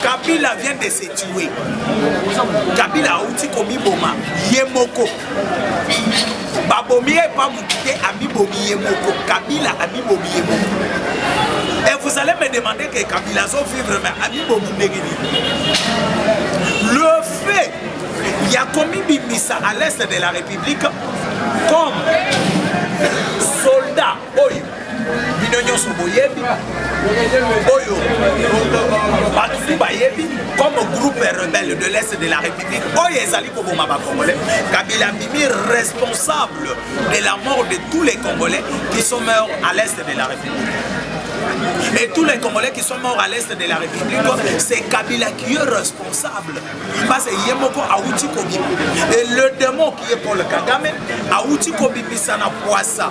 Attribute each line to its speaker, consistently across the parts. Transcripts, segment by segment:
Speaker 1: kabila vient de se tue kabila auti komiboma ye moko babomi ye epa motu te amibomi ye moko kabila amibomi ye moko et vous allez me demander que kabila azovivre mais amibomi ndenge nini le fait ya komibimisa à l'est de la république comme oyo bino nyonso boyebi oyo bato tu bayebi comme groupe rebelle de l'est de la république oyo ezali koboma bacongolais kabila bimi responsable de la mort de tous les congolais qui sont morts à l'est de la république Et tous les Congolais qui sont morts à l'est de la République, c'est Kabila qui est responsable. Parce que Yemoko Aouti Kobi. Et le démon qui est Paul Kagame, Aouti Kobi Misana Poissa.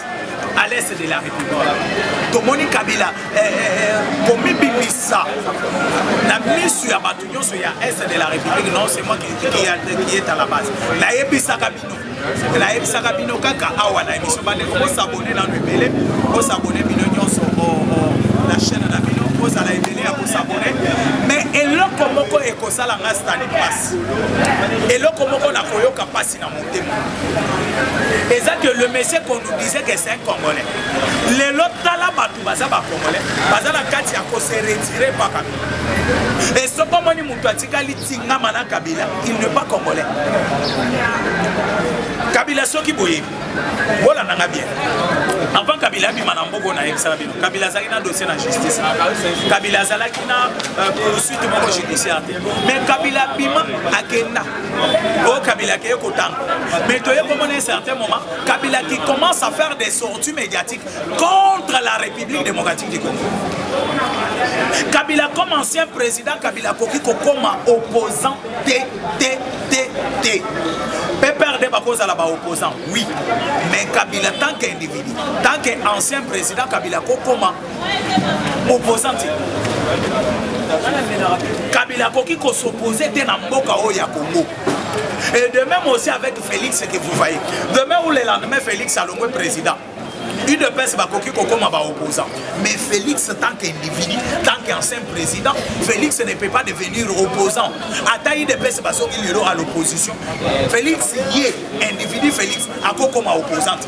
Speaker 1: à l'est de la république tomoni kabila eh, eh, eh, komibimisa na misu ya bato nyonso ya est de la république non c'est moi qui est à la base nayebisaka bino nayebisaka bino kaka awa na émission bandeko bosabone nano ebele bosabone bino nyonso na chaîne na bino bozala ebele ya kosabone mais eloko moko ekosala nga stani mpasi eloko moko nakoyoka mpasi na motema eza que le monsieur qu'on nous disait que c'est un congolais lelo tala bato baza bacongolais baza na kati ya kose retire pa kabila e soko omoni moto atikali tingama na kabila il ne pas congolais kabila soki boyebi bolanda nga bien avant kabila abima na mboka oyo nayebisaka bino kabila azalaki na dossier na justice kabila azalaki na euh, poursuite moko judiciaire te mais kabila abima akenda oyo kabila akeye kotanga mais toye komona un certain moment kabila qui commence à faire des sorties médiatiques contre la république démocratique du congo kabila comme ancien président kabila akoki kokoma opposant te te te te pprd bakozala baopposant oui mais kabila tant qu'individu tant que ancien président kabila kokoma opposante kabila akoki kosopoze te na mboka oyo ya kongo et de même aussi avec félix que vous voyez demain ou le lendemain félix alongwe président udps bakoki kokoma baopposant mais félix tant qu'individu tant qu'ancien président félix ne peut pas devenir opposant ata udps basoki lelo à l'opposition félix ye individu félix akokoma opposante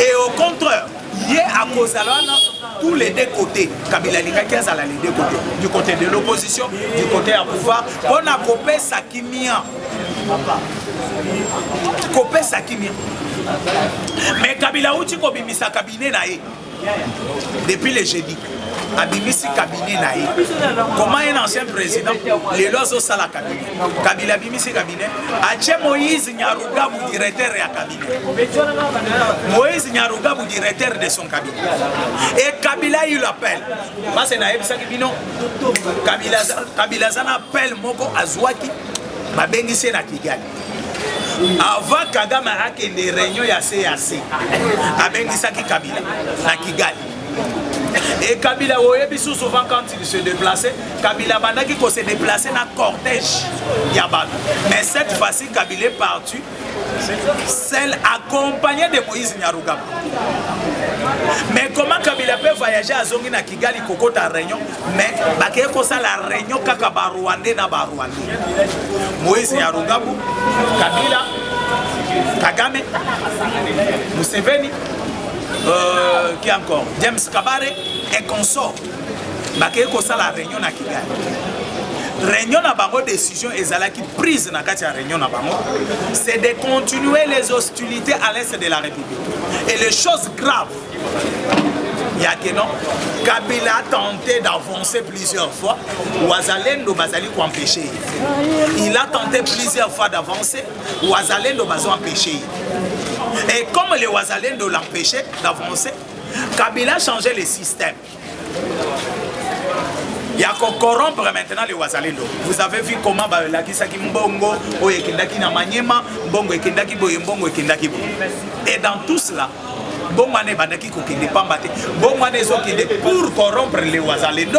Speaker 1: et au contraire ye akozala wana tous les deux côtés kabila alingaki azala les deux côtés du côté de l'opposition du côté ya pouvoir mpo na kopesa kimia kopesa kimia mais kabila auti kobimisa kabine na ye depuis le jeudi abimisi kabine na ye comment un ancien président lelo azosala kabine kabila abimisi kabine atie moïse Nyarugabu directeur ya cabinet. Moïse Nyarugabu directeur de son cabinet. Et Kabila il appelle. Parce na yebisaki bino Kabila Kabila zana appel moko azwaki babengisi ye na Kigali. Avant Kagame akende réunion ya CAC abengisaki Kabila na Kigali. Et Kabila oyebi sous souvent quand il se déplaçait, Kabila bandaki ko se déplacer na cortège ya bato. Mais cette fois-ci Kabila est parti seul accompagné de Moïse Nyarugaba. Mais comment Kabila peut voyager à Zongi na Kigali kokota réunion mais bakeye kosala réunion kaka ba Rwandais na ba Rwandais. Moïse Nyarugaba, Kabila, Kagame, Museveni euh, qui encore james kabare et consort bakei kosala réunion na kigali réunion na bango décision ezalaki prise na kati ya réunion na bango c'est de continuer les hostilités à l'est de la république et les choses graves ya ke non kabila a tenté d'avancer plusieurs fois wazalendo bazali koempêche ye il a tenté plusieurs fois d'avancer Wazalendo bazo empêcher ye. Et comme les Wazalendo l'empêchaient d'avancer, Kabila changeait le système. Il y a qu'on corrompre maintenant les Wazalendo. Vous avez vu comment bah, la Kisaki Mbongo, Oye Kendaki na Maniema, Mbongo et Kendaki Boye, Mbongo et Kendaki Boye. Et dans tout cela, Bomane Bandaki Kokende Pambate, Bomane Zokende pour corrompre les Wazalendo.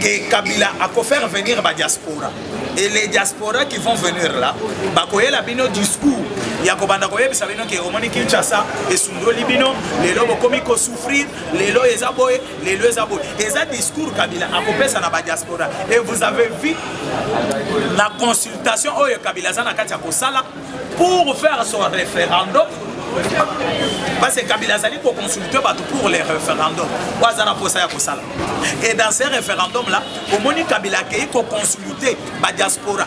Speaker 1: que Kabila a ko faire venir ba diaspora et les diaspora qui vont venir là bakoyela bino discours ya kobanda koyebisa bino ke omoni kinshasa esundoli bino lelo bokomi kosouffrir lelo eza boye lelo eza boye eza discours kabila akopesa na badiaspora et vous avez vu na consultation oyo kabila aza na kati ya kosala pour faire son référendum parce que kabila azali koconsulte bato pour les référendum oyo aza na mposa ya kosala et dans ce référendum là omoni kabila akei koconsulte badiaspora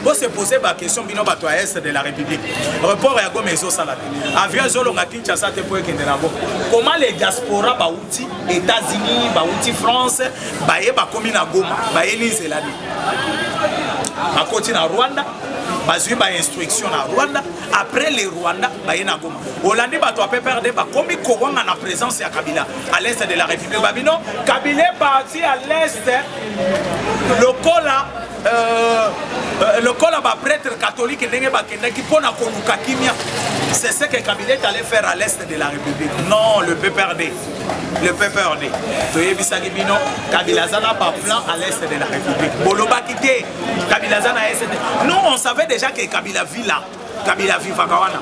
Speaker 1: bose pose baquestion bino bato ya est de la république report ya goma ezosala te avion ezolonga kinshasa te mpo ekende na goma koma le diaspora bauti états-unis bauti france baye bakomi na goma bayeli nzela nini bakoti na rwanda bazwi ba instruction na rwanda après le rwanda baye na goma olandi bato ya pprd bakomi kowanga na présence ya kabila à l'est de la république babino kabila eparti à l'est lokola euh, euh, lokola baprêtre catholique ndenge bakendaki mpo na koluka kimia c'est ce que kabila est allé faire à l'est de la république non le pprd le pprd toyebisaki bino kabila aza na baplan à l'est de la république bolobaki te kabila aza na sn nous on savait déjà que kabila vit là kabila vivaka wana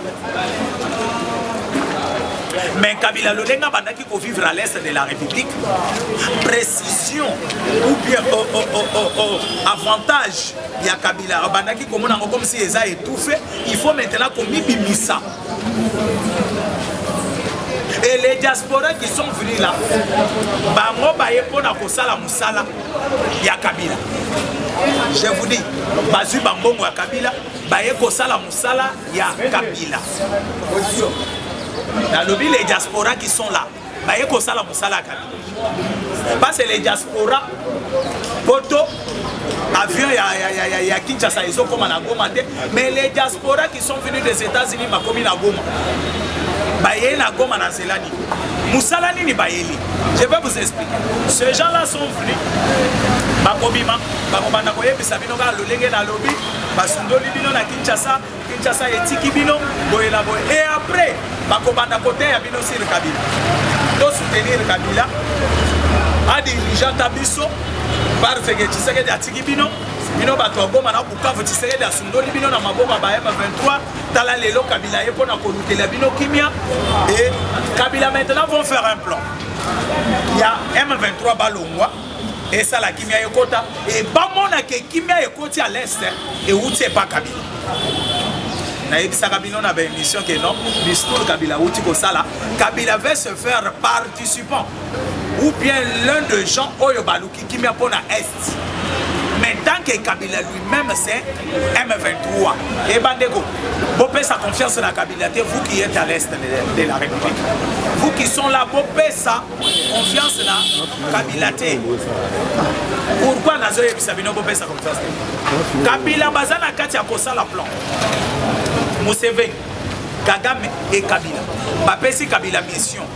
Speaker 1: mais kabila lolenge abandaki kovivre à l'est de la république précision ou bien oh, oh, oh, oh, oh, avantage ya kabila abandaki komona yango comme si eza étouffé il faut maintenant komibimisa et les diaspora qui sont venus là bango baye mpo na kosala sala ya kabila je vous dis bazwi bambongo ya kabila baye kosala mosala ya kabila nalobi les diaspora qui sont là baye kosala mosala ya kabila parce les diaspora poto avion ya, ya, ya, ya, ya kinshasa ezokoma na goma te mais les diaspora sont venus des États-Unis bakomi na Goma bayei na Goma na nzela nini mosala nini bayeli je vais vous expliquer ces gens là sont venus bakobima bakobanda koyebisa bino kaka lolenge nalobi basundoli bino na Kinshasa Kinshasa etiki bino boye na boye et après bakobanda koteya bino sur Kabila to soutenir Kabila adirigea ta biso parceke Tshisekedi atiki bino bino bato ya Goma na Bukavu, Tshisekedi asundoli bino na maboko ya ba M23. Tala lelo Kabila ye mpo na kolukela bino kimia. Et Kabila maintenant vont faire un plan ya M23 balongwa esala kimia ekota e bamona ke kimia ekoti à l'est euti epa Kabila nayebisaka bino na baémission ke non discours kabila auti kosala kabila va se faire participant ou bien l'un de gens oyo baluki kimia mpo na est mais tant que kabila lui-même c'est m23 eba ndeko bopesa confiance na kabila te vous qui êtes à l'est de la république vous qui sont là bopesa confiance na kabila te pourquoi nazoyebisa bino bopesa confiance te kabila baza na kati ya kosala plan museveni kagame e kabila bapesi kabila mission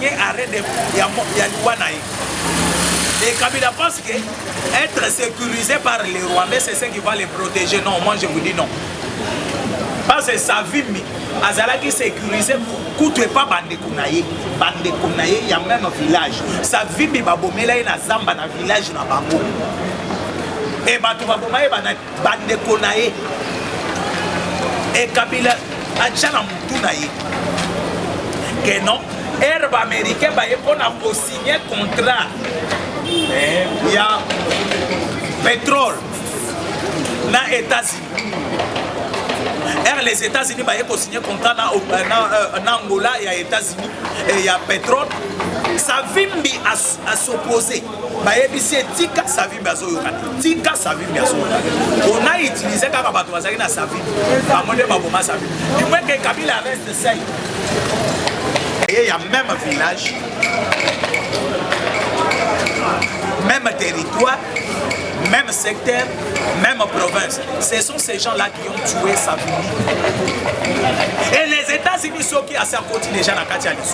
Speaker 1: ye arrêt de ya, ya liwa na ye et Kabila pense que être sécurisé par les Rwandais c'est ce qui va les protéger non moi je vous dis non parce que Savimi azalaki sécurisé kutu epa bandeko na ye bandeko na ye ya meme village Savimi babomela ye na zamba na village na bango e bato baboma ye bana bandeko na ye ekabila atya na motu na ye ke non ere baaméricain baye mpo na kosigne contrat eh, ya pétrole na états-unis ere les états-unis baye kosigne contrat na, euh, na, euh, na angola ya états-unis eh, ya pétrole savimbi asoposé as bayebisi ye tika savimbi azoyoka te tika savimbi azoyoka te ona utilize kaka bato bazali na savimbi bango nde baboma savimbi dimweke kabila reste sai eye ya même village même territoire même secteur, même province. Ce sont ces gens-là qui ont tué sa famille. Et les États-Unis sont qui à sa côté déjà dans Katialis.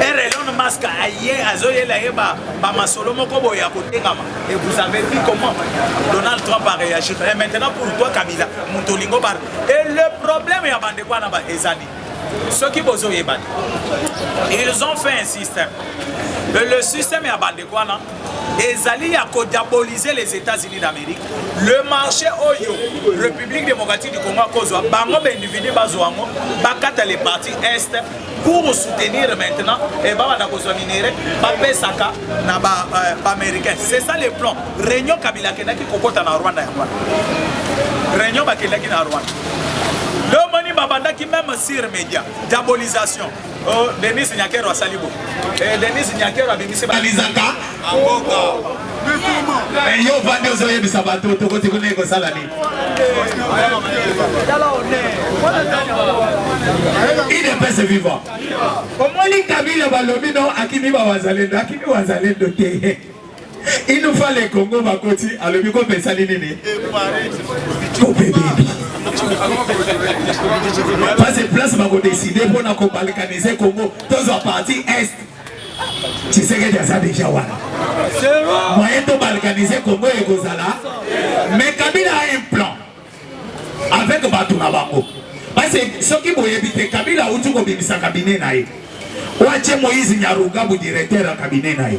Speaker 1: ere elon mask aye azoyela ye bamasolo moko boye ya kotengama et vous avez vu comment donald trump a réagir et maintenant pour toi kabila moto olingo bar et le problème ya bandeko wana ezali soki bozoyeba te ils ont fait un système et le système ya bandeko wana ezali ya kodiabolize les états-unis d'amérique le marché oyo république démocratique du congo akozwa bango baindividu bazwa yango bakata le parti est pour soutenir maintenant e babanda kozwa minere bapesaka na euh, baaméricain c'est ça le plan réunion kabila akendaki kokota na rwanda yango wana réunion bakendaki na rwanda leo moni babandaki meme sur média diabolisation Oh, Denis Nyakero asali bo. Eh, Denis Nyakero abimisi balizaka mboka. Eh, yo vandi ozoyebisa bato tokoti kuna ekosala nini? idps viva omoni kabila balobi no akimi bawazalendo akimi wazalendo te inufa le congo bakoti alobi kope esali nini kope bebi pase place bakodeside mpona kobalkanize congo tozwa parti est tshisekedi aza deja wana moyen tobalkanize congo ekozala mais kabila a un plan avec bato na bango basi soki boyebi te kabila auti kobimisa kabine na ye watie moïse nyarugabu directeur ya kabine na ye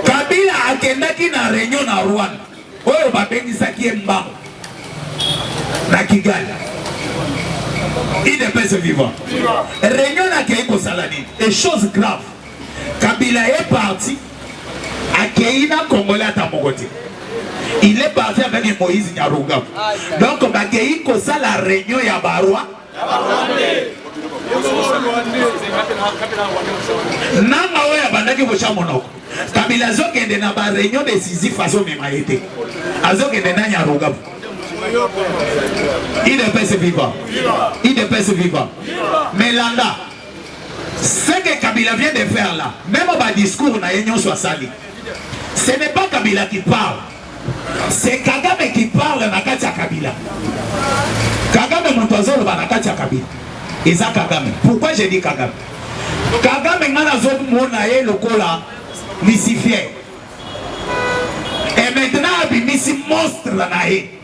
Speaker 1: kabila akendaki na reunion na rwanda oyo babengisaki ye mbango na kigali idepese vivant reunion nakei kosala nini e chose grave Kabila est parti akeyi na congolais ata moko te il est parti avec Moïse Nyarugabo donc bakeyi kosala réunion ya barwa nanga oyo abandaki kotya monoko kabila azokende na bareunion décisif azomema ye te azokende na nyarugabu idps viva idps viva melanda Ce que Kabila vient de faire là, meme ba discours na ye nyonso asali, ce n'est pas Kabila qui parle, c'est Kagame qui parle na kati ya Kabila. Kagame moto azoloba na kati ya Kabila eza Kagame. Pourquoi j'ai dit Kagame? Kagame ngai nazomona ye lokola Lucifer et maintenant abimisi monstre na ye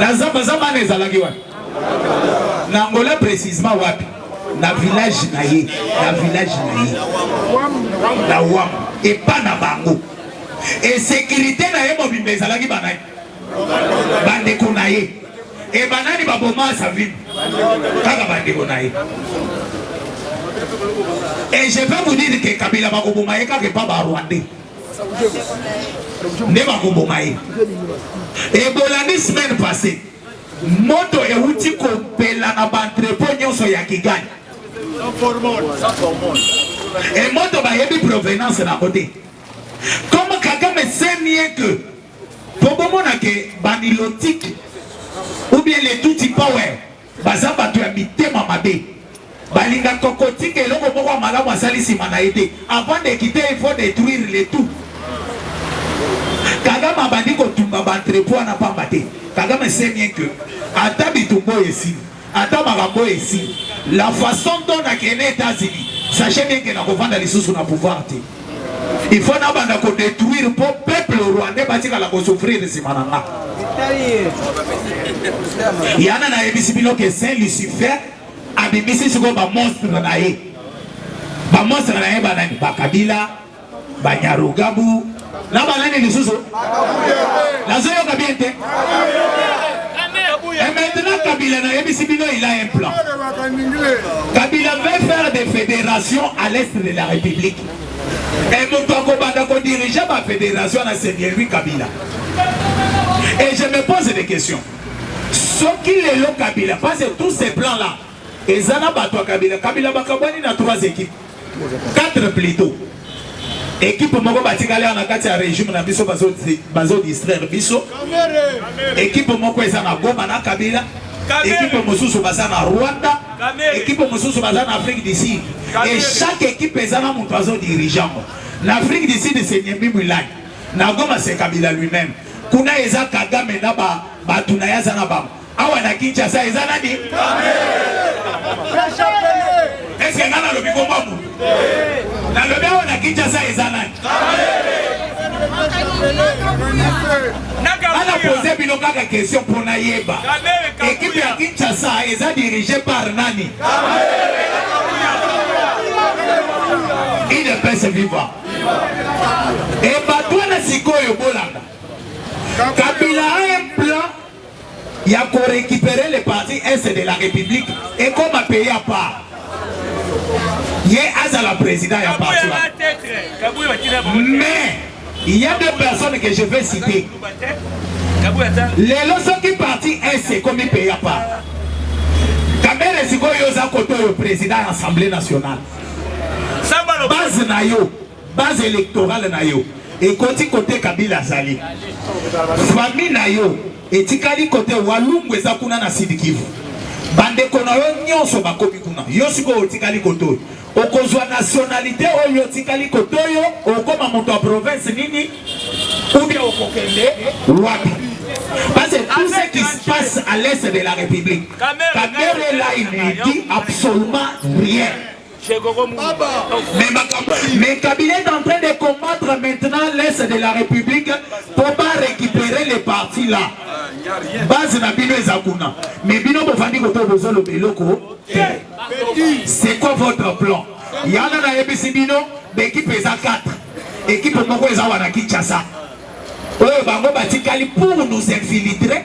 Speaker 2: Na zamba zamba na ezalaki wapi? Na Angola precisement wapi? Na village na ye, na village na ye. Na wam epa na bango. E sécurité na ye mobimba ezalaki banani? Bandeko na ye. E banani baboma Savimbi? Kaka bandeko na ye. Et je peux vous dire que Kabila bakoboma ye kaka epa ba Rwandais. nde bakoboma ye ebolandi semaine passé moto euti kopela na baentrepo nyonso ya kigali e moto bayebi provenance na yango te comme kagame semie que po bomona ke banilotike ou bien letuti power Baza bato ya mitema mabe. Balingaka kotika eloko moko ya malamu asali nsima na ye te. Avant de quitter, il faut detruire le tout. Kagame abandi kotumba ba entrepot wana pamba te. Kagame sait bien que ata bitumba oyo esili, ata makambo oyo esili, la façon dont nakende Etats-Unis, sachez bien que nakovanda lisusu na pouvoir te. Il faut na banda ko detruire po peuple rwandais batikala ko souffrir nsima na nga. Yana nayebisi bino ke Saint Lucifer abimisi sikoyo ba monstre na ye. Ba monstre na ye banani? Ba Kabila, ba Nyarugabu, Na banani lisusu? Nazoyoka bien te. Et maintenant Kabila nayebisi bino il a un plan. Kabila veut faire des fédérations à l'est de la République. Et moto akobanda ko diriger ba fédération na c'est bien lui Kabila. Et je me pose des questions. Soki lelo Kabila, parce que tous ces plans là Eza na batu ya kabila kabila bakabwani na trois equipes quatre plutot ekipe moko batikali awa na kati ya regime na biso bazo distraire biso ekipe moko eza na goma na kabila ekipe mosusu baza na rwanda ekipe mosusu baza na afrique du sud e chaque ekipe eza na moto azo dirige yango na afrique du sud se nyembi mwilani na goma se kabila lui-même kuna eza kagame na bato na ye aza na bango Awa na Kinshasa eza nani? Eske nga nalobi kombo ya moto? Nalobi awa na Kinshasa eza nani? Ana pose bino kaka question mpo nayeba ekipe ya Kinshasa eza dirige par nani? Udps viva! Ebatwana sikoyo bolanda Kabila ya ko recuperer le parti est de la République et comme un pays à part ye azala président ya parti mais il y a deux personnes que je vais citer lelo soki parti est ekomi pays à part kamere sikoyo oza koto oyo président ya assemblée nationale base na yo Base electorale na yo ekoti kote Kabila azali. Famille na yo etikali kote Walungu eza kuna na Sud Kivu. Bandeko na yo nyonso bakomi kuna. Yo sikoyo otikali kote oyo. Okozwa nationalite oyo otikali kote oyo okoma moto ya province nini? Ou bien okokende wapi? Parce que tout ce qui se passe à l'est de la République, Kamere là, il ne dit absolument rien. Mais, mais Kabila est en train de combattre maintenant l'Est de la République pour pas récupérer les partis là. Base na bino eza kuna. Mais bino bofandi ko to bozo lobeloko. C'est quoi votre plan? Yana na yebisi bino l'équipe eza 4. Équipe moko eza wana Kinshasa. Oyo bango batikali pour nous infiltrer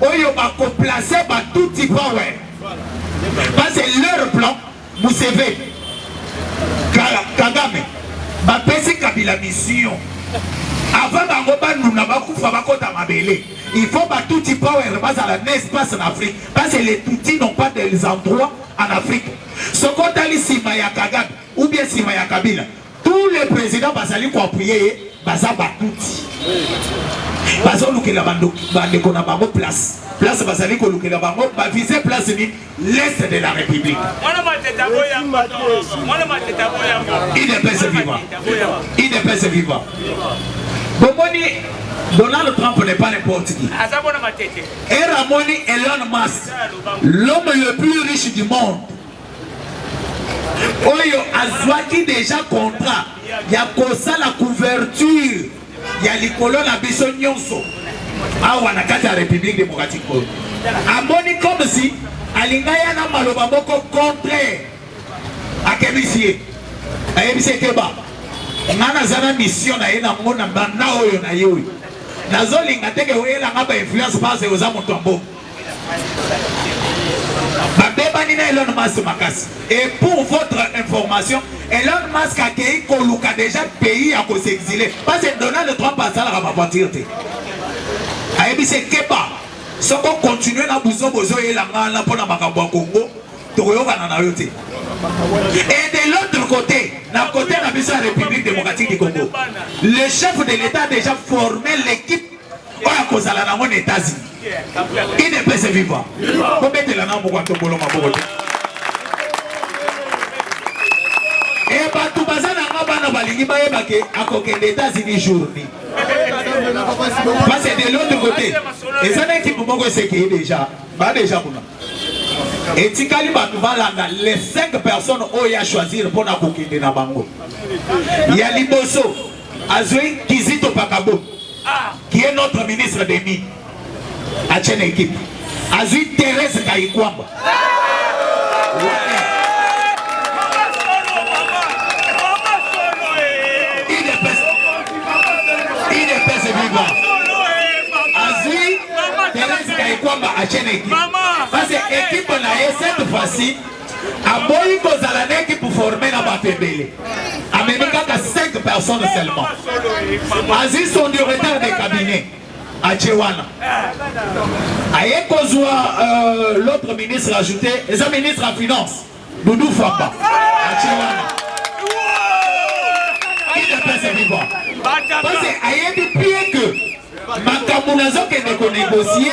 Speaker 2: oyo bako placer ba tutsi power parce que leur plan museve kagame bapesi kabila mission avant bango banuna bakufa bakota mabele il faut batuti power bazala na espace na afrique parce que les tutsi n'ont pas des endroits en afrique soki otali nsima ya kagame ou bien nsima ya kabila Tous les presidents bazali ko appuyer ye baza ba tutsi. Bazolukela bandeko na bango place. Place bazali kolukela bango ba vise place ni l'est de la république. Il est pèse vivant. Il est pèse vivant. Bomoni Donald Trump n'est pas n'importe qui. Era moni Elon Musk, l'homme le plus riche du monde. oyo azwaki deja contrat ya kosala couverture ya likolo na biso nyonso awa na kati ya République démocratique Congo amoni comme si alinga ya na maloba moko contraire akebisi ye ayebisi ekeba nga naza na mission na ye nango na banda oyo na ye oyo nazolinga teke oyelanga ba influence base oza moto ya mbongo babebani na Elon Musk makasi et pour votre information Elon Musk akei koluka déjà pays ya ko s'exiler parce que Donald Trump asalaka ba voiture te ayebisi ekeba soki okontinue na buzo bozoyela ngai wana mpo na makambo ya kongo tokoyokana na yo te et de l'autre côté na côté na biso ya république démocratique du congo le chef de l'état a déjà formé l'équipe oyo akozala nango na etasi idepese viva kobetela na moko atobolo maboko te e bato baza nanga bana balingi bayeba ke akokende etats-unis journi parce de l'autre côté eza na ekipe moko esekeye deja ba deja kuna etikali bato balanda les 5 personnes oyo ya choisir mpo na kokende na bango ya liboso Azui Kizito Pakabo qui est notre ministre des mines atie na ekipe, azui Therese Kayikwamba Therese Kayikwamba atie na ekipe, parce que ekipe na ye cette fois-ci aboyi kozala na ekipe forme na bato ebele amemi kaka 5 personnes seulement azwi son du retard de cabinet atie wana aye kozwa euh, l'autre ministre ajouté eza ministre ya finance doudou famba atie wana idepese vivant parce ayebi bien que makambo nazokende konegocie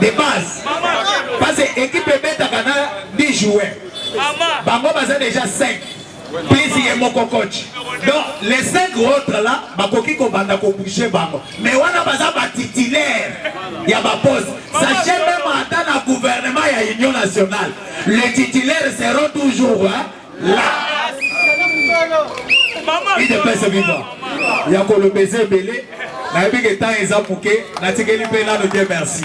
Speaker 2: de base parce que équipe ebetaka na 10 joueurs bango baza déjà 5 plus ye moko coach donc les 5 autres là bakoki kobanda kobouge bango mais wana baza batitulaire ya baposte sache meme ata na gouvernement ya union nationale le titulaire seront toujours hein? idepese viva ya koloba eza ebele nayebi ke temps eza moke natikeli mpe nano te merci